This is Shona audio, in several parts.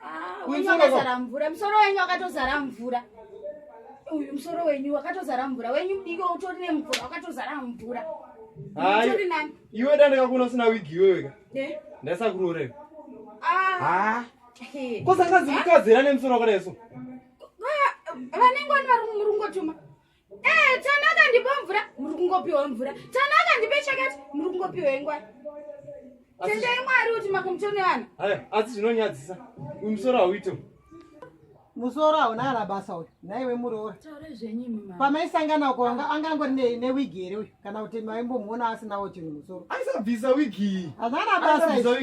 Ah, wenyu wakazara mvura musoro wenyu wakatozara mvura uyu musoro wenyu wakatozara mvura wenyu mudiki utori nemvura wakatozara mvura iwe dandakakuna usina wigi iweweka eh? ndaisakurorewa ah. kosakadzi kukadzira nemusoro wakadaiso vanenge wani vari murungotuma ee eh, tanaka ndipo mvura muri kungopiwa mvura tanaka ndipe chakati muri kungopiwa ingwai tendai mwari kuti makumutone vanhu asi zvinonyadzisa uyu musoro hauito musoro hauna ana basa uyu naiwe muroora pamaisangana uko anga angangori newigi here uyu kana kuti maimbomuona asinawo chinhu musoro aisabvisa wigi hazana basa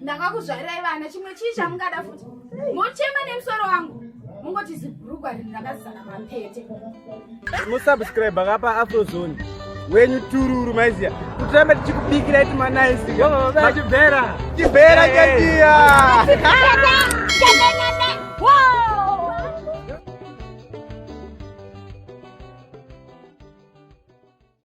ndakakuzvarirai vana chimwe chii chamungada futi mochema nemusoro wangu mungoti zibhurugwa rinhu rakazana mapete musubscribe akapa afrozone wenyu tururu maiziya kutiramba tichikubikira iti manaisiyachibhera chibhera chatiya